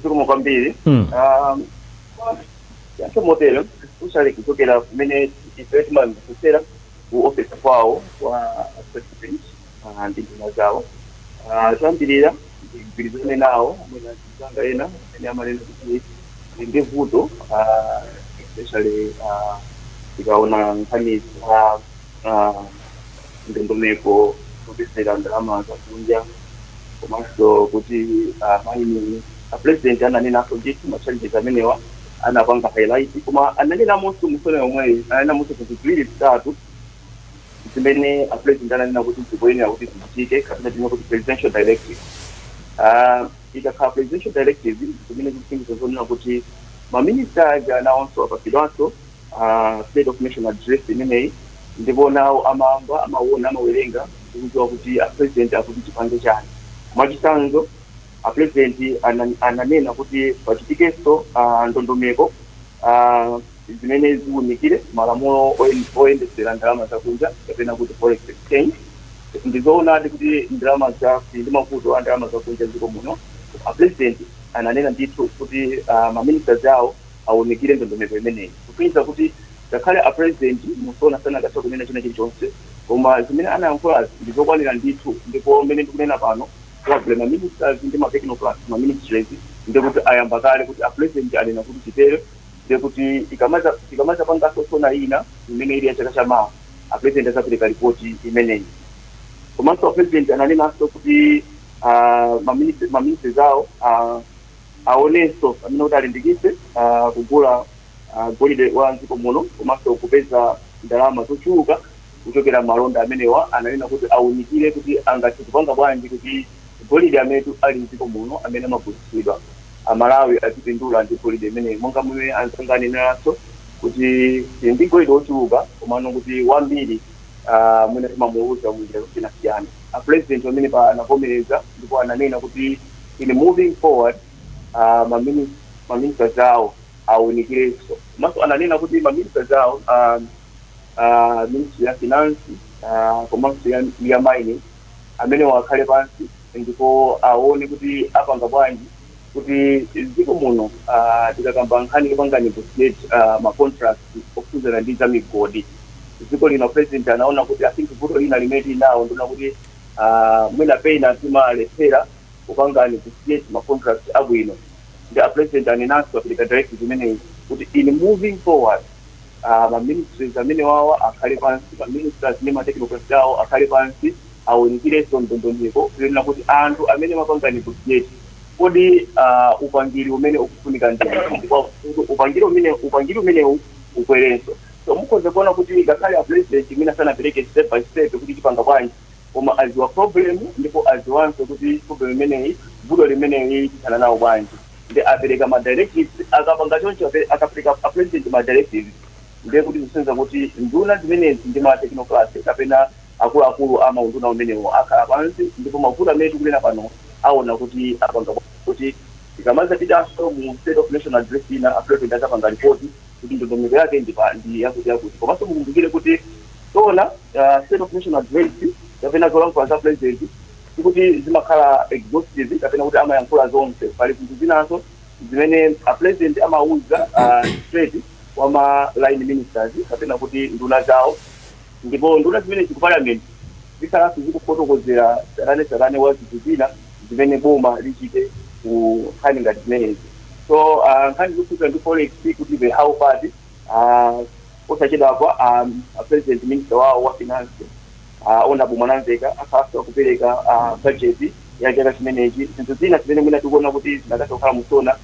zikomo kwambiri Mm. Um, yankho mutero usali kuchokera kumene ife timamvetsera ku office kwawo wa president ah, ndi nduna zawo Ah, choyambirira ndigwirizane nawo mwina anzanga ena amene amanena kuti ndi ndi vuto ah, especially ah, tikaona nkhani za ah, ndondomeko zopezera ndalama zakunja komanso kuti ah, mining apurezidenti ananenanso ndithu machallenges amenewa anapanga highlight koma ananenanso mu SONA yomweyi ananenamonso zinthu ziwiri zitatu zimene a president ananena kuti zikuyenera kuti zichitike kapena tinene kuti presidential directive Ah, ikakhala presidential directive zimene zikusonyeza zonena kuti maminista aja anawonso apatsidwanso ah, state of nation address imeneyi ndipo nawo amamva amawona amawerenga ndikudziwa kuti a president akuti tipange chani mwachitsanzo a president ana- ananena kuti pachitikenso ah, ndondomeko ah, zimene ziunikire malamulo oyendetsera ndalama zakunja kapena kuti forex exchange. Ndizoonadi kuti ndalama za tili ndi mavuto a ndalama zakunja m'dziko muno koma a president ananena ndithu kuti uh, ma ministers awo aunikire ndondomeko imeneyi kusonyeza kuti ngakhale a president musona sanakatha kunena china chilichonse koma zimene anayankhulazi ndi zokwanira ndithu ndipo mmene ndikunena pano probably ma ministers ndi ma technocrats ma ministries ndikuti ayamba kale kuti a president anena kuti titere ndiye kuti tikamaza tikamazapanganso sona ina imene ili ya chaka cha mawa apresident azapereka ripoti imeneyi komanso apresident ananenanso kuti ah, maminisi- maministers awo ah, aonenso amene kuti alimbikitse ah, kugula ah, golide wa mdziko muno komanso kupeza ndalama zochuluka kuchokera m'malonda amenewa ananena kuti aunikire kuti angathe kupanga bwanji kuti golide amene ali m'dziko muno amene amagulitsidwa, Amalawi azipindula ndi golide imeneyi. Monga momwe anzanga aneneranso kuti tili ndi golide wochuluka komano kuti wambiri ah mwina timamuuluza munjira zosiyanasiyana. Apulezidenti pamenepa anavomereza ndipo ananena kuti in moving forward ah ma minis ma ministers awo aunikirenso. Komanso ananena kuti ma ministers awo ah. ah, ministry ya finance ah, komanso ya, ya mining amene wakhale pansi ndipo aone kuti apanga bwanji kuti dziko muno ah, tikakamba nkhani yopanga negotiate ah, ma contract okhudzana ndi za migodi dziko lino president anaona kuti i think vuto lina limene tili nawo ndi lonena kuti ah, mwina pena timalephera kupanga negotiate ma contract abwino nde a president anenanso apereka directive imeneyi kuti in moving forward ah, ma ministries amene wawa akhale pansi ma ministers ndi ma technocrats awo akhale pansi awunikirenso ndondomeko kunena kuti anthu amene amapanga negotiate kodi ah, upangiri umene ukufunika ndi ndipo upangiri umene upangiri umenewu ukwerenso so mukhoza kuona kuti ngakhale a president imene sanapereke step by step kuti tipanga bwanji koma aziwa problem ndipo aziwanso kuti problem imeneyi vuto limeneyi tithana nawo bwanji nde apereka ma directives akapanga choncho ape- akapereka a president ma directives ndiye kuti zikusonyeza kuti nduna zimenezi ndi ma technocrats kapena akuluakulu ama unduna umenewo akhala pansi ndipo mavuto amene tikunena pano aona kuti apanga kuti tikamazapitanso mu state of nation address ina a president azapanga report kuti ndondomeko yake ndi yakuti komanso mukumbukire kuti SONA uh, state of nation address kapena zolankhula za president sikuti zimakhala exhaustive kapena kuti amayankhula zonse pali zinthu zinanso zimene a president amauza uh, straight kwa ma line ministers kapena kuti nduna zawo Ndipo nduna zimenezi ku Parliament zikhalanso zikufotokozera tsatanetsatane wa zinthu zina zimene boma lichite ku nkhani ngati zimenezi. So aah nkhani zokhudzana ndi Forex kuti the how part aah posachedwapa aah President Minister wawo wa Finance aah Honourable Mwanamveka akhalanso akupereka budget ya chaka chimenechi. Zinthu zina zimene mwina tikuona kuti zinakatha kukhala mu SONA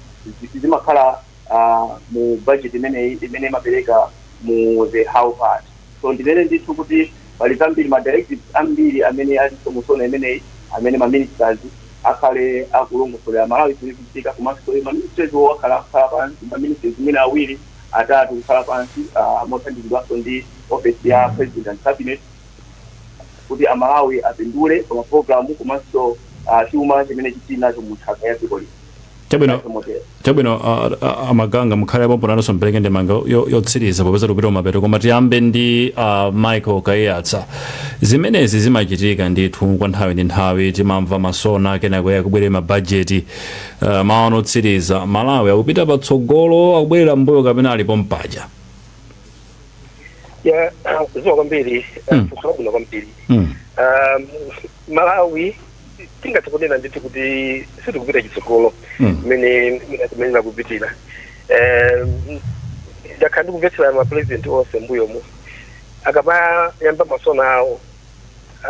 zimakhala uh, mu budget imeneyi imene imapereka mu the how part so ndinene ndithu kuti pali zambiri ma directives ambiri amene alinso mu SONA imeneyi amene ma ministers akhale akulongosolera amalawi zimene zikuchitika komanso ma ministerswo akhala akukhala pansi ma ministers mwina awiri atatu kukhala pansi uh, mothandizidwanso ndi office ya president and cabinet kuti amalawi apindule pa mapulogalamu komanso ah, chuma chimene tili nacho mu nthaka ya dziko lino Chabwino. Basi motero. chabwino a- a- a Maganga mukhale pompo nanunso mpereke ndemanga yo- yotsiriza popeza tikupita kumapeto koma tiyambe ndi a michael kayatsa zimenezi zimachitika ndithu kwa nthawi ndi nthawi timamva masona kenako kubwere mabajeti uh, maono otsiriza malawi akupita patsogolo akubwerera mbuyo kapena ali pompaja ya zikomo kwambiri Mm. kusabuna kwambiri Mm. um, malawi tingathe kunena ndithu kuti sitikupita chitsogolo Mm. mmene timayenera kupitira Eh, ndakhala ndikumvetsera mapurezidenti onse mbuyomu akamayamba masona awo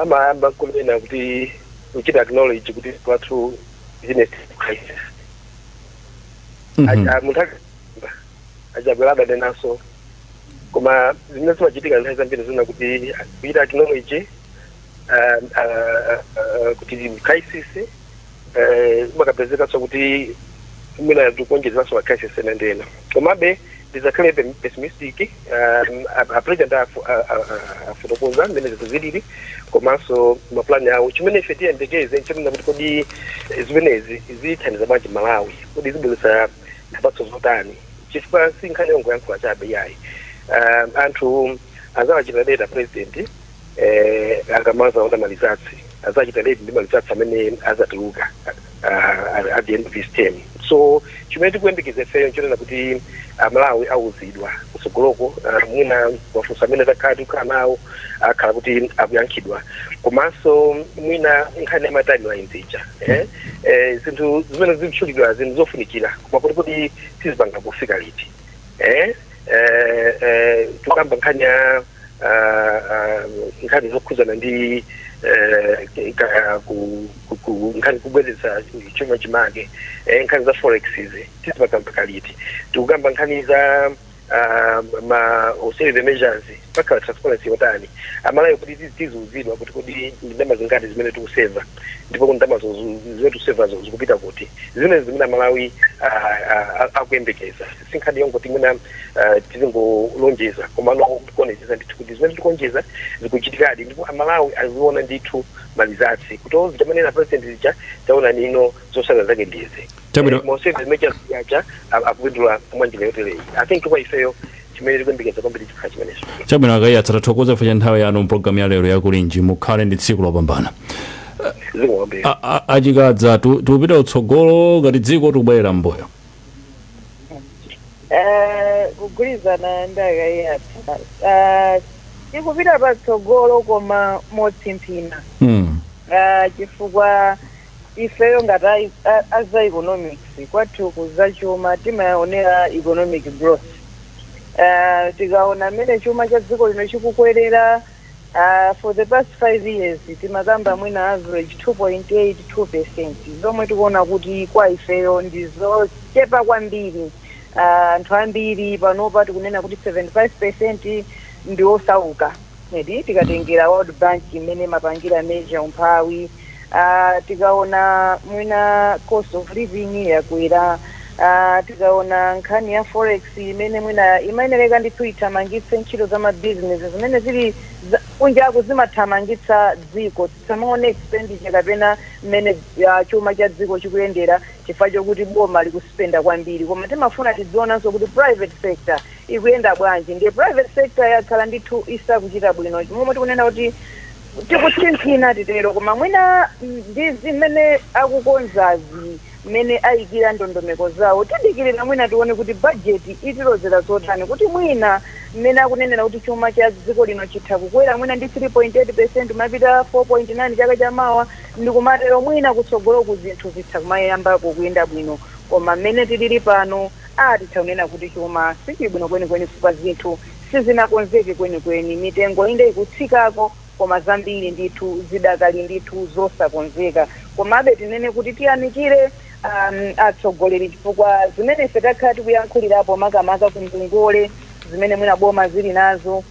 amayamba kunena kuti kuchita acknowledge kuti the country is in a crisis Mhm. Aja- munthu aka- a Chakwera adanenanso koma zimene zimachitika nthawi zambiri ndi zonena kuti kuchita acknowledge ah, ah, ah, kuti ndi crisis eh, amakapezekaso kuti mwina akuonjezeranso ma crisis ena ndi ena komabe ndisakhale pe- pessimistic um, a- a president afu- a- a- a- afotokoza mmene zinthu zilili komanso mapulani awo chimene ife tiyembekeze nchonena kuti kodi eh, zimenezi zithandiza bwanji malawi kodi zibweretsa zipatso zotani chifukwa si nkhani yongoyankhula chabe yayi um, anthu azawachita rate a president eh, akamazaona malizatsi azachita rate ndi malizatsi amene azatuluka ah, at the end of his term so chimene tikuyembekeza ifeyo nchonena kuti amalawi auzidwa kutsogoloko ah, mwina mafunso amene takhala tikukhala nawo akhala kuti akuyankhidwa komanso mwina nkhani ya matimeline zija eh? eh, zinthu zimene zikutchulidwa zinthu zofunikira koma kuti kodi tizipanga pofika liti eh, eh, eh, tikukamba nkhani ya ah, ah, nkhani zokhudzana ndi eh, ka- ku- ku- ku- nkhani kubwezeretsa chuma chimake eh, nkhani za forex izi tizipanga mpaka liti tikukamba nkhani za ah, ma austerity measures pakhala transparency yotani aMalawi kuti tiziuzidwa kuti kodi ndalama zingati zimene tikuseva ndipo kodi ndalamazo zu- zu- zimene tikuseva zikupita kuti zimenezi zimene amalawi ah, ah, akuyembekeza si nkhani yongoti mwina ah, tizingolonjeza komano kuonetsetsa ndithu kuti zimene tikulonjeza zikuchitikadi ndipo amalawi aziona ndithu ma results kuti o zija amanena president zija taona nino zotsatira zake ndizi Chabwino. Eh, mu save zimene achaziyacha akupindula mwa njira yotereyi i think kwa ifeyo chimene tikuyembekeza kwambiri chikhala chimenecho. Chabwino akayatsa tathokoza chifukwa cha nthawi yanu mpulogalamu ya lero yakulinji mukhale ndi tsiku lopambana zikomo kwambiri A- a- achikadza tu- tikupita kutsogolo ngati dziko tikubwerera m'mbuyo Eh, kugwirizana ndi akayatsa Ah, tikupita patsogolo koma motsimphina mm. Ah, chifukwa ifeyo ngati a, a, a za economics kwathu ku za chuma timaonera economic growth uh, tikaona mmene chuma cha dziko lino chikukwerera uh, for the past five years timakamba mwina average 2.82 percent zomwe tikuona kuti kwa ifeyo ndi zochepa kwambiri Ah, anthu ambiri panopa tikunena kuti 75 percent ndi osauka and tikatengera world bank mmene imapangira measure umphawi uh, tikaona mwina cost of living yakwera uh, tikaona nkhani ya forex imene mwina imayenereka ndithu ithamangitse ntchito za mabizinesi zimene zili za- kunjako zimathamangitsa dziko tisamaone expenditure kapena mmene uh, chuma cha dziko chikuyendera chifukwa chokuti boma likuspenda kwambiri koma timafuna tidzionanso kuti private sector ikuyenda bwanji ndiye private sector yakhala ndithu isakuchita bwino momwe tikunena kuti Tikutsimphina, titero, koma mwina ndi zimene akukonzazi, mmene aikira ndondomeko zawo. Tidikirira mwina tione kuti bajeti itilozera zotani, kuti mwina mmene akunenera kuti chuma cha dziko lino chitha kukwera mwina ndi 3.8 percent kumapita 4.9 chaka cha mawa, ndi kumatero mwina kutsogoloku zinthu zitha kumayambako kuyenda bwino. Koma mmene tilili pano, aah, titha kunena kuti chuma sichili bwino kwenikweni chifukwa zinthu. sizinakonzeke kwenikweni. Mitengo inde ikutsikako, koma zambiri ndithu zidakali ndithu zosakonzeka. Komabe tinene kuti tiyamikire a atsogoleri chifukwa zimene ife takhala tikuyankhulirapo makamaka ku ngongole zimene mwina boma zili nazo,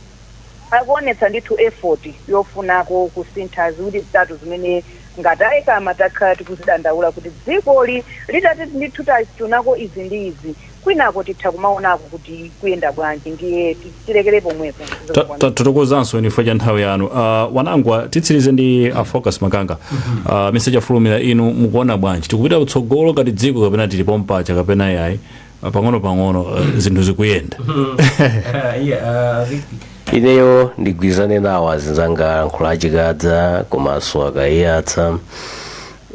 akuonetsa ndithu effort yofunako kusintha ziwiri zitatu zimene ngati a Ecama takhala tikuzidandaula kuti dzikoli litati ndithu tachitako izi ndi izi, kwinako titha kumaonako kuti kuyenda bwanji ndiye ti- tilekere pomwepo Ta- zikomo kwambiri. tathokozanso chifukwa cha nthawi yanu Ah, wanangwa titsirize ndi a focus makanga Ah, mr chafulumira inu mukuona bwanji tikupita kutsogolo ngati dziko kapena tili pompamwecha kapena yayi Ah, pang'ono pang'ono ah, zinthu zikuyenda ineyo ndigwirizane nawo azinzanga ayankhula a Chikadza komanso a Kaiyatsa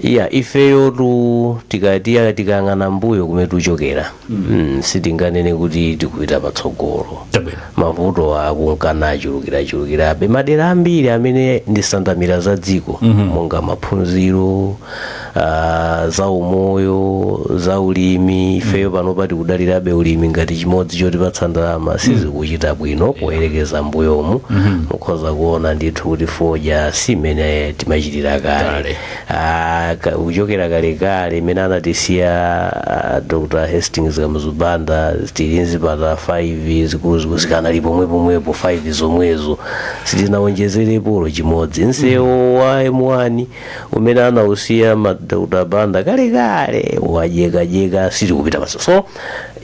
Iya, ifeyotu tikati tikayang'ana mbuyo kumene tikuchokera mm, sitinganene kuti tikupita patsogolo Tabwino. mavuto akunka nachulukirachulukirabe m'madera ambiri amene ndi nsanamira za dziko monga maphunziro ah, za umoyo za ulimi ifeyo panopa tikudalirabe ulimi ngati chimodzi chotipatsa ndalama sizikuchita bwino poyerekeza mbuyomu mukhoza kuona ndithu kuti fodya si mmene timachitira kale Kale. Ah, ka- kuchokera kalekale imene anatisiya ah, dr hastings kamuzu banda tili nzipatala 5 zikuluzikulu zikanali pomwepomwepo 5 zomwezo sitinawonjezerepo chimodzi nsewo wa m1 umene anausiya a dr banda kalekale wadyekadyeka sitikupita patso so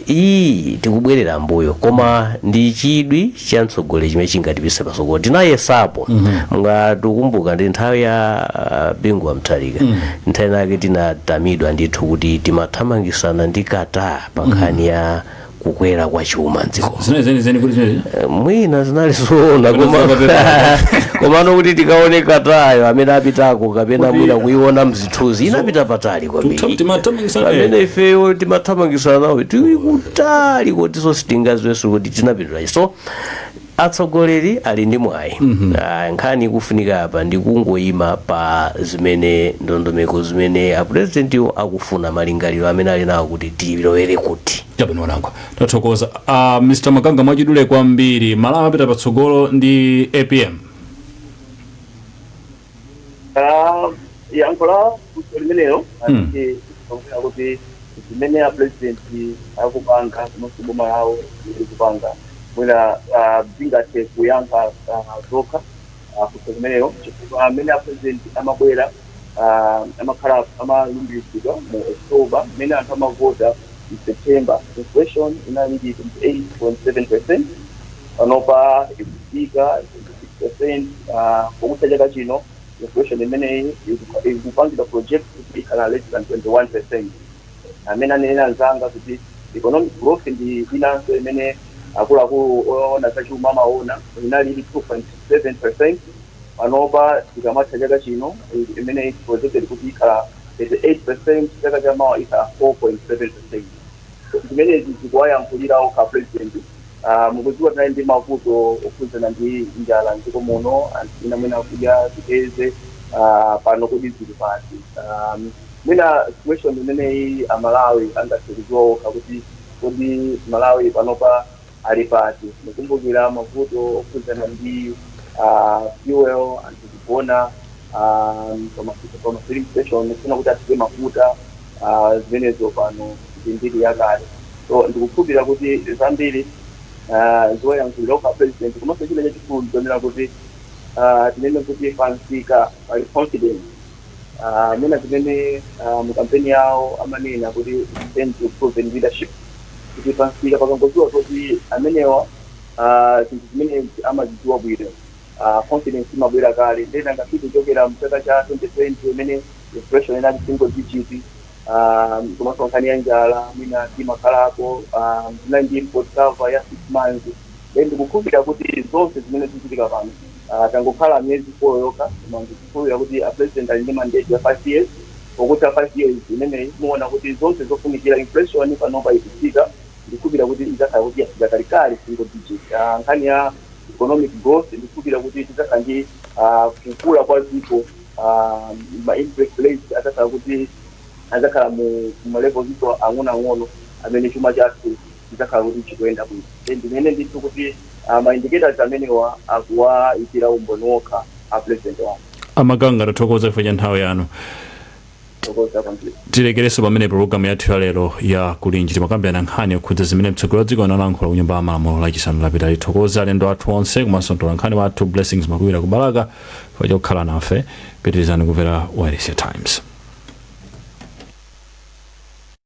iyi tikubwerera mbuyo koma ndi chidwi cha mtsogoleri chimene chingatipise pasogolo tinayesapo mungatikumbuka ndi nthawi ya uh, bingu wa mutharika nthawi nake tinatamidwa ndithu kuti timathamangisana ndi qatar pa nkhani ya kukwera kwa chuma m'dziko zinali zenizeni kuti zinali Eh, mwina zinali zoona Kapena koma- zakapepa. komano kuti tikaone qatar yo amene apitako kapena mwina kuiona mzi zithunzi inapita patali kwambiri Tuta- timathamangisa- eh. pamene ifeyo timathamangisana nawo tili kutali kotiso sitingaziwenso kuti tinapindula chi so atsogoleri ali ndi mwayi Ah, nkhani ikufunika apa ndi kungoyima pa zimene ndondomeko zimene apurezidentiwo akufuna malingaliro amene ali nawo kuti tilowere kuti chabwino wanangwa tathokoza uh, mr makanga mwachidule kwambiri malawi apita patsogolo ndi apm Ah, yankho la funso limenelo Hmm. ati kuonera kuti zimene a president akupanga komanso boma lawo likupanga mwina ah, zingathe kuyankha ah, zokha ah, funso limenelo chifukwa mmene a president amabwera ah, amakhala amalumbiritsidwa mu october mmene anthu amavota mu september inflation inali pa 28.7 percent panopa ikufika percent pokutha chaka chino inflation imeneyi iku- ikupangidwa project kuti ikhala less than 21 percent amene anenera anzanga kuti economic growth ndi inanso imene akuluakulu oona zachuma amaona inali ili 2.7 percent panopa tikamatha chaka chino i- imene i- projected kuti ikhala 3.8 percent chaka chamawa ikhala 4.7 percent zimenezi zikuwayankhulira okha president Ah, mukudziwa tinali ndi mavuto okhudzana ndi njala mdziko muno anthu ena mwina akudya ziteze ah, pano kodi zili pati ah, mwina situation imeneyi amalawi angathe kudziwa okha kuti kodi malawi panopa ali pati mukumbukira mavuto okhudzana ndi ah, fuel anthu kugona ah, pama pama filling station kufuna kuti athire mafuta Ah, zimenezo pano ndi mbiri yakale so ndikukhulupirira kuti zambiri ah, zoyankhulira okha president komanso china chachikulu ndichonena kuti ah, tinene kuti pamsika pali confidence Ah, mwina zimene ah, mu kampeni yawo amanena kuti return to proven leadership kuti pamsika pakangodziwa kuti amenewa ah, zinthu zimenezi amazidziwa bwino ah, confidence imabwera kale nde nanga si kuchokera mchaka cha 2020 imene inflation inali single digit ah, komanso nkhani ya njala mmene timakhalako ah, tinali ndi import cover ya six months nde ndikukhulupirira kuti zonse zimene zikuchitika pano ah, tangokhala miyezi four yokha koma ndikukhulupirira kuti a president ali ndi mandate ya five years pokutha five years imeneyi muona kuti zonse zofunikira inflation panopa ikutsika Ndikukhulupirira kuti idzakhala kuti yafika kalekale single digit. Nkhani ya economic growth ndikukhulupirira kuti tidzakhala ndi kukula kwa dziko ma interest rates adzakhala kuti adzakhala mu ma levels ndithu ang'onoang'ono amene chuma chathu chidzakhala kuti chikuyenda bwino. Nde ndinene ndithu kuti ma indicators amenewa akuwaikira umboni okha a President wathu. A Maganga tathokoza chifukwa cha nthawi yanu. Zikomo kwambiri. tilekere pamenepa pologalamu yathu ya lero ya kulinji timakambirana nkhani yokhudza zimene mtsogoleri wa dziko analankhula ku nyumba ya malamulo lachisanu lapitali tithokoze alendo athu onse komanso mtola nkhani wathu blessings makuwira ku balaka chifukwa chokhala nafe pitirizani kumvera wailesi ya times